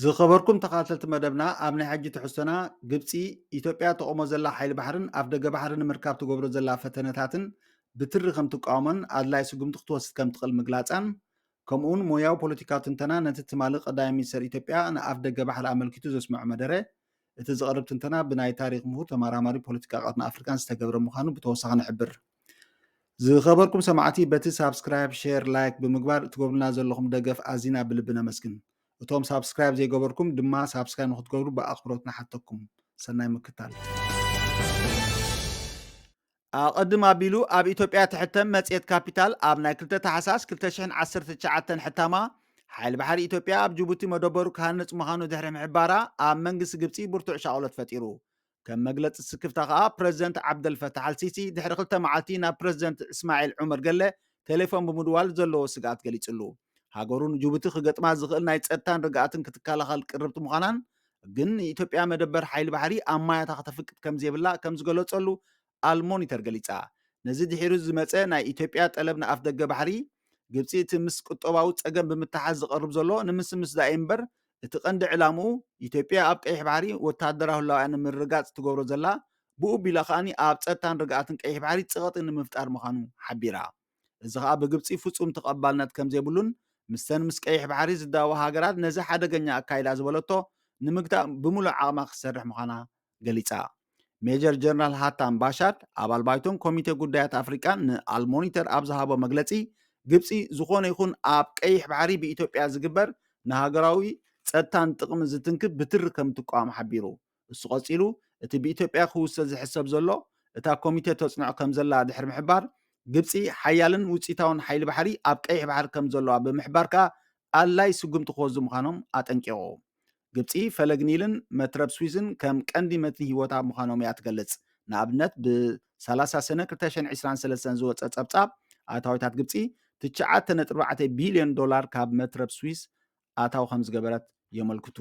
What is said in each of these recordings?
ዝኸበርኩም ተኻተልቲ መደብና ኣብ ናይ ሕጂ ትሕዝቶና ግብፂ ኢትዮጵያ ተቆሞ ዘላ ሓይሊ ባሕርን ኣፍ ደገ ባሕሪ ንምርካብ ትገብሮ ዘላ ፈተነታትን ብትሪ ከም ትቃወሞን ኣድላይ ስጉምቲ ክትወስድ ከም ትኽእል ምግላፃን ከምኡ እውን ሞያዊ ፖለቲካዊ ትንተና ነቲ ትማሊ ቀዳማይ ሚኒስተር ኢትዮጵያ ንኣፍ ደገ ባሕሪ ኣመልኪቱ ዘስምዖ መደረ እቲ ዝቐርብ ትንተና ብናይ ታሪኽ ምሁር ተመራማሪ ፖለቲካ ቀርኒ ኣፍሪካን ዝተገብረ ምዃኑ ብተወሳኺ ንሕብር። ዝኸበርኩም ሰማዕቲ በቲ ሳብስክራይብ፣ ሼር፣ ላይክ ብምግባር እትገብሩልና ዘለኹም ደገፍ ኣዚና ብልቢ ነመስግን። እቶም ሳብስክራይብ ዘይገበርኩም ድማ ሳብስክራይብ ንክትገብሩ ብኣኽብሮት ንሓተኩም። ሰናይ ምክታል። ኣቐድም ኣቢሉ ኣብ ኢትዮጵያ ትሕተም መጽሔት ካፒታል ኣብ ናይ ክልተ ታሕሳስ ክልተ ሽሕን ዓሰርተ ትሽዓተን ሕታማ ሓይሊ ባሕሪ ኢትዮጵያ ኣብ ጅቡቲ መደበሩ ክሃንጽ ምዃኑ ድሕሪ ምሕባራ ኣብ መንግስቲ ግብጺ ብርቱዕ ሻቕሎት ፈጢሩ። ከም መግለጺ ስክፍታ ከኣ ፕረዚደንት ዓብደልፈታሕ ኣልሲሲ ድሕሪ ክልተ መዓልቲ ናብ ፕረዚደንት እስማዒል ዑመር ገለ ቴሌፎን ብምድዋል ዘለዎ ስግኣት ገሊጽሉ። ሃገሩ ንጅቡቲ ክገጥማ ዝኽእል ናይ ጸጥታን ርግኣትን ክትከላኸል ቅርብቲ ምዃናን ግን ንኢትዮጵያ መደበር ሓይሊ ባሕሪ ኣብ ማያታ ከተፍቅድ ከምዘይብላ ከምዝገለጸሉ ኣል ሞኒተር ገሊጻ። ነዚ ድሒሩ ዝመጸ ናይ ኢትዮጵያ ጠለብ ንኣፍደገ ባሕሪ፣ ግብጺ እቲ ምስ ቁጠባዊ ጸገም ብምትሓዝ ዝቐርብ ዘሎ ንምስምስ ዛኢዩ እምበር እቲ ቀንዲ ዕላምኡ ኢትዮጵያ ኣብ ቀይሕ ባሕሪ ወተሃደራዊ ህላዌኣ ንምርግጋጽ እትገብሮ ዘላ ብኡ ኣቢላ ከኣ ኣብ ጸጥታን ርግኣትን ቀይሕ ባሕሪ ጽቕጢ ንምፍጣር ምዃኑ ሓቢራ። እዚ ኸኣ ብግብጺ ፍጹም ተቐባልነት ከምዘይብሉን ምስተን ምስ ቀይሕ ባሕሪ ዝዳወባ ሃገራት ነዚ ሓደገኛ ኣካይዳ ዝበለቶ ንምግታእ ብምሉእ ዓቕማ ክትሰርሕ ምዃና ገሊጻ። ሜጀር ጀነራል ሃታም ባሻድ ኣባል ባይቶን ኮሚቴ ጉዳያት ኣፍሪቃን ንኣልሞኒተር ኣብ ዝሃቦ መግለጺ ግብጺ ዝኾነ ይኹን ኣብ ቀይሕ ባሕሪ ብኢትዮጵያ ዝግበር ንሃገራዊ ጸጥታን ጥቕምን ዝትንክፍ ብትሪ ከምትቋወም ሓቢሩ። እሱ ቀጺሉ እቲ ብኢትዮጵያ ክውሰድ ዝሕሰብ ዘሎ እታ ኮሚቴ ተጽንዖ ከምዘላ ድሕሪ ምሕባር፣ ግብጺ ሓያልን ውጽኢታውን ሓይሊ ባሕሪ ኣብ ቀይሕ ባሕሪ ከምዘለዋ ብምሕባር ከኣ ኣድላዪ ስጉምቲ ክወስዱ ምዃኖም ኣጠንቂቑ። ግብጺ ፈለግ ኒልን መትረብ ስዊዝን ከም ቀንዲ መትኒ ህይወታ ምዃኖም እያ ትገልጽ። ንኣብነት ብ ሰላሳ ሰነ ክልተ ሽሕን ዕስራን ሰለስተን ዝወጸ ጸብጻብ ኣታዊታት ግብጺ ትሽዓተ ነጥቢ ኣርባዕተ ቢልዮን ዶላር ካብ መትረብ ስዊዝ ኣታዊ ከምዝገበረት የመልክቱ።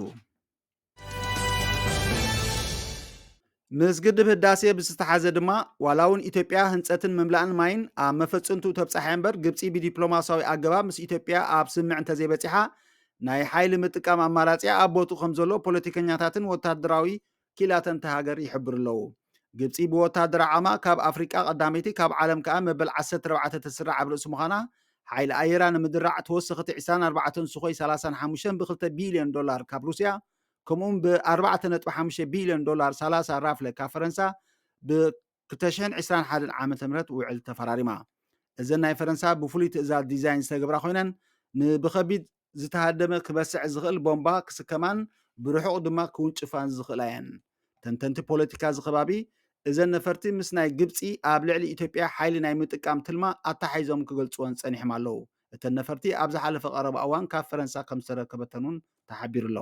ምስ ግድብ ህዳሴ ብዝተሓዘ ድማ ዋላ እውን ኢትዮጵያ ህንፀትን ምምላእን ማይን ኣብ መፈፅንቱ ተብፃሐ እምበር ግብፂ ብዲፕሎማሲያዊ ኣገባብ ምስ ኢትዮጵያ ኣብ ስምምዕ እንተዘይበፂሓ ናይ ሓይሊ ምጥቃም ኣማራፂያ ኣብ ቦትኡ ከም ዘሎ ፖለቲከኛታትን ወታደራዊ ኪላተንቲ ሃገር ይሕብሩ ኣለዉ። ግብፂ ብወታደራዊ ዓቕማ ካብ ኣፍሪቃ ቀዳመይቲ ካብ ዓለም ከዓ መበል ዓሰርተ ኣርባዕተ ተስርዕ ኣብ ርእሲ ምዃና ሓይሊ ኣየራ ንምድራዕ ተወሰኽቲ ዕስራን ኣርባዕተን ሱኾይ ሰላሳን ሓሙሽተን ብ ክልተ ቢልዮን ዶላር ካብ ሩስያ ከምኡ'ውን ብ ኣርባዕተ ነጥቢ ሓሙሽተ ቢልዮን ዶላር ሰላሳ ራፍለ ካብ ፈረንሳ ብ ክልተ ሽሕን ዕስራን ሓደን ዓመተ ምህረት ውዕል ተፈራሪማ። እዘን ናይ ፈረንሳ ብፍሉይ ትእዛዝ ዲዛይን ዝተገብራ ኮይነን ንብኸቢድ ዝተሃደመ ክበስዕ ዝኽእል ቦምባ ክስከማን ብርሑቕ ድማ ክውንጭፋን ዝኽእላ እየን። ተንተንቲ ፖለቲካ እዚ ከባቢ፣ እዘን ነፈርቲ ምስ ናይ ግብጺ ኣብ ልዕሊ ኢትዮጵያ ሓይሊ ናይ ምጥቃም ትልማ ኣተሓሒዞም ክገልጽወን ጸኒሖም ኣለዉ። እተን ነፈርቲ ኣብ ዝሓለፈ ቀረባ እዋን ካብ ፈረንሳ ከም ዝተረከበተን'ውን ተሓቢሩ'ሎ።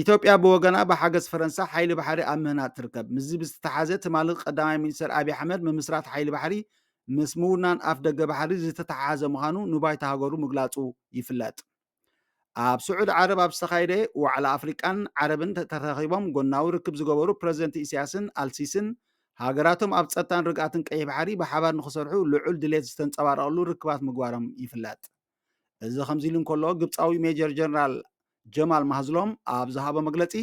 ኢትዮጵያ ብወገና ብሓገዝ ፈረንሳ ሓይሊ ባሕሪ ኣብ ምህናፅ ትርከብ ምስዚ ብዝተተሓዘ ትማሊ ቀዳማይ ሚኒስትር ኣብዪ ኣሕመድ ምምስራት ሓይሊ ባሕሪ ምስ ምውናን ኣፍ ደገ ባሕሪ ዝተተሓሓዘ ምዃኑ ንባይታ ሃገሩ ምግላፁ ይፍለጥ ኣብ ስዑድ ዓረብ ኣብ ዝተኻየደ ዋዕላ ኣፍሪቃን ዓረብን ተረኺቦም ጎናዊ ርክብ ዝገበሩ ፕረዚደንት ኢሳያስን ኣልሲስን ሃገራቶም ኣብ ጸጥታን ርግኣትን ቀይሕ ባሕሪ ብሓባር ንክሰርሑ ልዑል ድሌት ዝተንጸባረቐሉ ርክባት ምግባሮም ይፍለጥ እዚ ከምዚ ኢሉ እንከሎ ግብፃዊ ሜጀር ጀነራል ጀማል ማህዝሎም ኣብ ዝሃቦ መግለፂ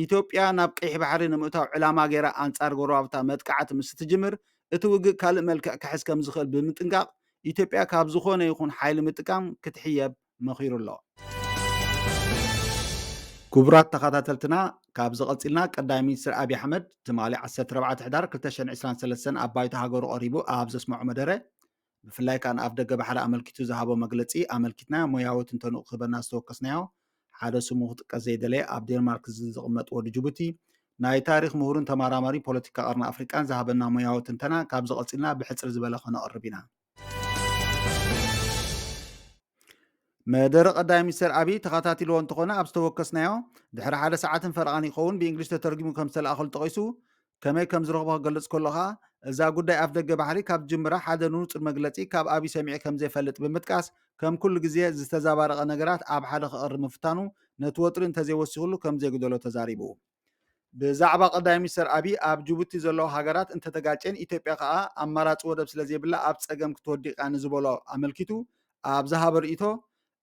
ኢትዮጵያ ናብ ቀይሕ ባሕሪ ንምእታው ዕላማ ገይራ ኣንፃር ጎረባብታ መጥቃዕቲ ምስ እትጅምር እቲ ውግእ ካልእ መልክዕ ክሕዝ ከም ዝኽእል ብምጥንቃቕ ኢትዮጵያ ካብ ዝኾነ ይኹን ሓይሊ ምጥቃም ክትሕየብ መኺሩ ኣሎ። ክቡራት ተኸታተልትና ካብዚ ቀፂልና ቀዳማይ ሚኒስትር ኣብዪ ኣሕመድ ትማሊ 14 ሕዳር 2023 ኣብ ባይቶ ሃገሩ ቀሪቡ ኣብ ዘስመዖ መደረ ብፍላይ ከኣ ንኣፍደገ ባሕሪ ኣመልኪቱ ዝሃቦ መግለጺ ኣመልኪትናዮ ሞያዊ ትንተንኡ ክህበና ዝተወከስናዮ ሓደ ስሙ ክጥቀስ ዘይደለየ ኣብ ዴንማርክ ዝቕመጥ ወዲ ጅቡቲ ናይ ታሪኽ ምሁርን ተማራማሪ ፖለቲካ ቀርኒ ኣፍሪቃን ዝሃበና ሞያዊ ትንተና ካብዚ ቀጺልና ብሕጽር ዝበለ ከነቕርብ ኢና። መደረ ቀዳማይ ሚኒስትር ኣብይ ተኸታቲልዎ እንተኾነ ኣብ ዝተወከስናዮ ድሕሪ ሓደ ሰዓትን ፈረቓን ይኸውን ብእንግሊሽ ተተርጊሙ ከም ዝተለኣኸሉ ጠቒሱ ከመይ ከም ዝረኽቦ ክገልጽ ከሎ ከኣ፣ እዛ ጉዳይ ኣፍደገ ባሕሪ ካብ ዝጅምራ ሓደ ንጹር መግለጺ ካብ ኣቢይ ሰሚዐ ከም ዘይፈልጥ ብምጥቃስ፣ ከም ኩሉ ግዜ ዝተዛባረቐ ነገራት ኣብ ሓደ ከቕርብ ምፍታኑ ነቲ ወጥሪ እንተዘይወሲኹሉ ከም ዘይጉደሎ ተዛሪቡ። ብዛዕባ ቀዳማይ ሚኒስተር ኣቢይ ኣብ ጅቡቲ ዘለዋ ሃገራት እንተተጋጭየን ኢትዮጵያ ከኣ ኣማራጺ ወደብ ስለዘይብላ ኣብ ጸገም ክትወዲቕ እያ ንዝበሎ ኣመልኪቱ ኣብ ዝሃቦ ርእይቶ፣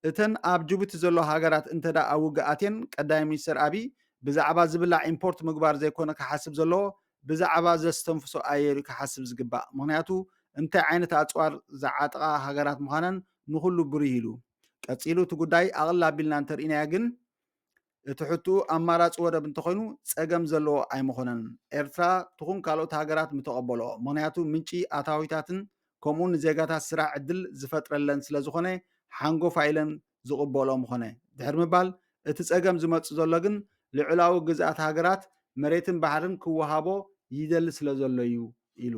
እተን ኣብ ጅቡቲ ዘለዋ ሃገራት እንተድኣ ኣብ ውግእ ኣትየን ቀዳማይ ሚኒስተር ኣብይ ብዛዕባ ዝብላዕ ኢምፖርት ምግባር ዘይኮነ ክሓስብ ዘለዎ ብዛዕባ ዘስተንፍሶ ኣየር እዩ ክሓስብ ዝግባእ ምኽንያቱ እንታይ ዓይነት ኣጽዋር ዝዓጥቓ ሃገራት ምዃነን ንኹሉ ብሩህ ኢሉ ቀጺሉ እቲ ጉዳይ ኣቕልል ኣቢልና እንተርኢናዮ ግን እቲ ሕትኡ ኣማራጺ ወደብ እንተኾይኑ ጸገም ዘለዎ ኣይምኾነን። ኤርትራ ትኹን ካልኦት ሃገራት ምተቐበሎ። ምኽንያቱ ምንጪ ኣታዊታትን ከምኡ ንዜጋታት ስራሕ ዕድል ዝፈጥረለን ስለዝኾነ ሓንጎፋይ ኢለን ዝቕበልኦ ምኾነ። ድሕሪ ምባል እቲ ጸገም ዝመጽእ ዘሎ ግን ልዑላዊ ግዝኣት ሃገራት መሬትን ባሕርን ክወሃቦ ይደሊ ስለዘሎ'ዩ ኢሉ።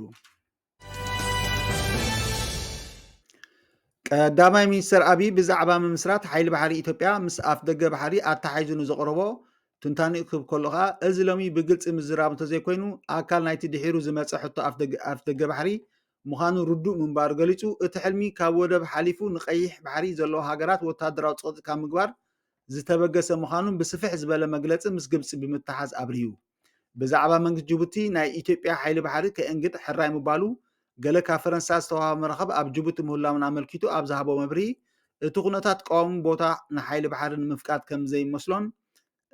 ቀዳማይ ሚኒስትር ኣብይ ብዛዕባ ምምስራት ሓይሊ ባሕሪ ኢትዮጵያ ምስ ኣፍ ደገ ባሕሪ ኣተሓሒዙ ንዘቕረቦ ትንታኒ ክህብ ከሎ ከዓ እዚ ሎሚ ብግልፂ ምዝራብ እንተዘይኮይኑ ኣካል ናይቲ ድሒሩ ዝመፀ ሕቶ ኣፍ ደገ ባሕሪ ምዃኑ ርዱእ ምንባሩ ገሊፁ እቲ ሕልሚ ካብ ወደብ ሓሊፉ ንቀይሕ ባሕሪ ዘለዎ ሃገራት ወታደራዊ ፀቕጢ ካብ ምግባር ዝተበገሰ ምዃኑን ብስፍሕ ዝበለ መግለፂ ምስ ግብፂ ብምትሓዝ ኣብርሁ። ብዛዕባ መንግስቲ ጅቡቲ ናይ ኢትዮጵያ ሓይሊ ባሕሪ ከእንግድ ሕራይ ምባሉ ገለ ካብ ፈረንሳ ዝተዋህበ መራኽብ ኣብ ጅቡቲ ምህላውን ኣመልኪቱ ኣብ ዝሃቦ መብርሂ እቲ ኩነታት ቀዋሚ ቦታ ንሓይሊ ባሕሪ ንምፍቃድ ከምዘይመስሎን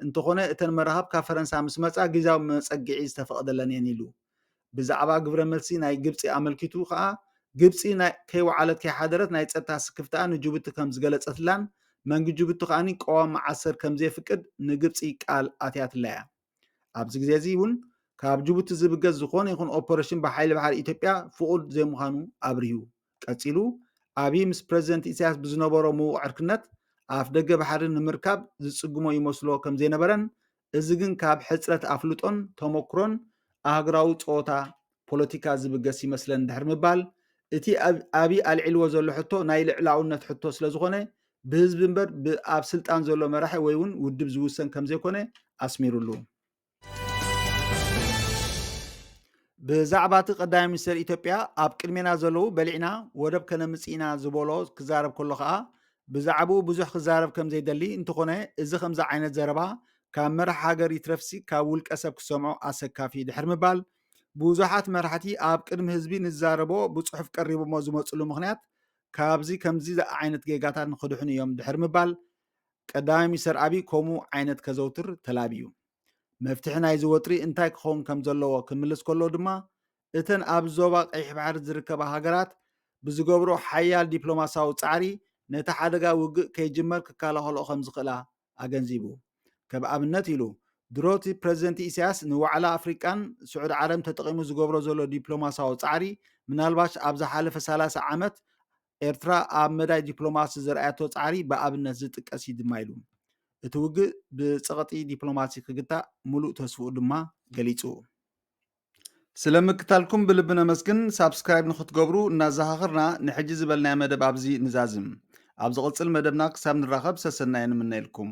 እንተኾነ እተን መራኽብ ካብ ፈረንሳ ምስ መጻ ግዝያዊ መጸግዒ ዝተፈቕደለን እየን ኢሉ። ብዛዕባ ግብረ መልሲ ናይ ግብጺ ኣመልኪቱ ከኣ፣ ግብጺ ናይ ከይወዓለት ከይሓደረት ናይ ጸጥታ ስክፍታኣ ንጅቡቲ ከም ዝገለጸትላን መንግ ጅቡቲ ከኣ ቀዋም መዓሰር ከም ዘየፍቅድ ንግብጺ ቃል ኣትያትላ'ያ። ኣብዚ ግዜ'ዚ ውን ካብ ጅቡቲ ዝብገስ ዝኾነ ይኹን ኦፐረሽን ብሓይሊ ባሕሪ ኢትዮጵያ ፍቑድ ዘይምዃኑ ኣብሪሁ። ቀጺሉ ኣብይ ምስ ፕረዚደንት ኢሳያስ ብዝነበሮ ምዉቕ ዕርክነት ኣፍደገ ባሕሪ ንምርካብ ዝጽግሞ ይመስሎ ከም ዘይነበረን እዚ ግን ካብ ሕጽረት ኣፍልጦን ተሞክሮን ኣህጉራዊ ጸወታ ፖለቲካ ዝብገስ ይመስለኒ ድሕሪ ምባል፣ እቲ ኣብይ ኣልዒልዎ ዘሎ ሕቶ ናይ ልዕላውነት ሕቶ ስለዝኾነ ብህዝቢ እምበር ብኣብ ስልጣን ዘሎ መራሒ ወይ እውን ውድብ ዝውሰን ከምዘይኮነ ኣስሚርሉ። ብዛዕባ እቲ ቀዳማይ ሚኒስተር ኢትዮጵያ ኣብ ቅድሜና ዘለዉ በሊዕና ወደብ ከነምጽእ ኢና ዝበሎ ክዛረብ ከሎ ከኣ ብዛዕብኡ ብዙሕ ክዛረብ ከም ዘይደሊ እንተኾነ እዚ ከምዚ ዓይነት ዘረባ ካብ መራሒ ሃገር ይትረፍሲ ካብ ውልቀ ሰብ ክሰምዖ ኣሰካፊ ድሕር ምባል ብዙሓት መራሕቲ ኣብ ቅድሚ ህዝቢ ንዛረቦ ብጽሑፍ ቀሪቦሞ ዝመጽሉ ምክንያት ካብዚ ከምዚ ዓይነት ጌጋታት ንክድሕኑ እዮም ድሕር ምባል ቀዳማይ ሚኒስተር ኣብይ ከምኡ ዓይነት ከዘውትር ተላብዩ መፍትሒ ናይዚ ወጥሪ እንታይ ክኸውን ከም ዘለዎ ክምልስ ከሎ ድማ እተን ኣብ ዞባ ቀይሕ ባሕሪ ዝርከባ ሃገራት ብዝገብርኦ ሓያል ዲፕሎማስያዊ ጻዕሪ ነቲ ሓደጋ ውግእ ከይጅመር ክከላኸልኦ ከምዝኽእላ ኣገንዚቡ። ከም ኣብነት ኢሉ፣ ድሮ'ቲ ፕረዚደንት ኢሳያስ ንዋዕላ ኣፍሪቃን ስዑዲ ዓረብን ተጠቒሙ ዝገብሮ ዘሎ ዲፕሎማስያዊ ጻዕሪ ምናልባሽ ኣብ ዝሓለፈ ሰላሳ ዓመት ኤርትራ ኣብ መዳይ ዲፕሎማሲ ዘርኣየቶ ጻዕሪ ብኣብነት ዝጥቀስ እዩ ድማ ኢሉ። እቲ ውግእ ብጸቕጢ ዲፕሎማሲ ክግታእ ምሉእ ተስፍኡ ድማ ገሊጹ። ስለ ምክታልኩም ብልቢ ነመስግን ሳብስክራይብ ንክትገብሩ እናዘኻኽርና ንሕጂ ዝበልናዮ መደብ ኣብዚ ንዛዝም ኣብ ዝቕጽል መደብና ክሳብ ንራኸብ ሰሰናዩ ንምነየልኩም።